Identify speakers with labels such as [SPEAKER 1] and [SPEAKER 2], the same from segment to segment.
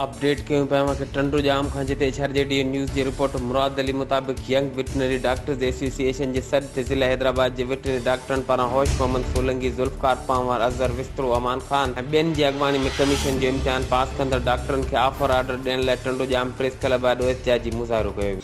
[SPEAKER 1] Update ڪيون پيا اوهان کي ٽنڊو ڄام کان جتي H R G D news جي رپورٽر مراد علي مطابق young veterinary doctors association جي صد تي ضلع حيدرآباد جي وٽرنري ڊاڪٽرن پاران هوش محمد سولنگي ذوالفقار پنهور اظهر وسترو امان خان ۽ ٻين جي اڳواڻي ۾ ڪميشن جو امتحان پاس ڪندڙ ڊاڪٽرن کي آفر آرڊر ڏيڻ لاء ٽنڊو ڄام پريس ڪلب آڏو احتجاجي مظاهرو ڪيو ويو.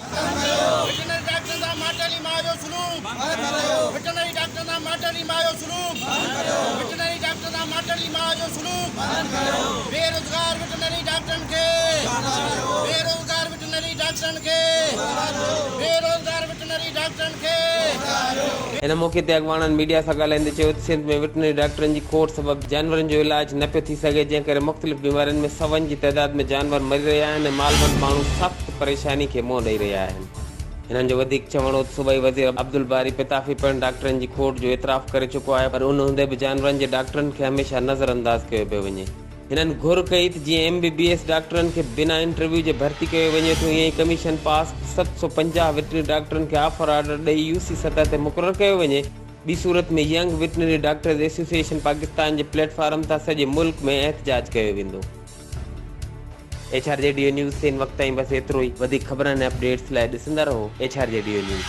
[SPEAKER 1] ان موقعي تي اڳواڻن ميڊيا سان ڳالهائيندي چيو ته سنڌ ۾ وٽرنري ڊاڪٽرن جي کوٽ سبب جانورن جو علاج نه پيو ٿي سگهي جنهن ڪري مختلف بيمارين ۾ سون جي تعداد ۾ جانور مري رهيا آهن ۽ مالوند ماڻهو سخت پريشاني کي منهن ڏئي رهيا آهن. هنن جو وڌيڪ چوڻ هو ته صوبائي وزير عبدالباري پتافي پڻ ڊاڪٽرن جي کوٽ جو اعتراف ڪري چڪو آهي پر ان هوندي به جانورن جي ڊاڪٽرن کي هميشه نظر انداز ڪيو پيو وڃي. هنن گهر ڪئي ته جيئن ايم بي بي ايس ڊاڪٽرن کي بنا انٽرويو جي ڀرتي ڪيو وڃي ٿو ائين ئي ڪميشن پاس ست سؤ پنجاهه وٽنري ڊاڪٽرن کي آفر آرڊر ڏئي يو سي سطح تي مقرر ڪيو وڃي ٻي صورت ۾ young veterinary doctors association Pakistan جي پليٽ فارم تان سڄي ملڪ ۾ احتجاج ڪيو ويندو. H R G D news تي هن وقت تائين بس ايترو ئي وڌيڪ خبرن ۽ اپڊيٽس لاء ڏسندا رهو H R G D news.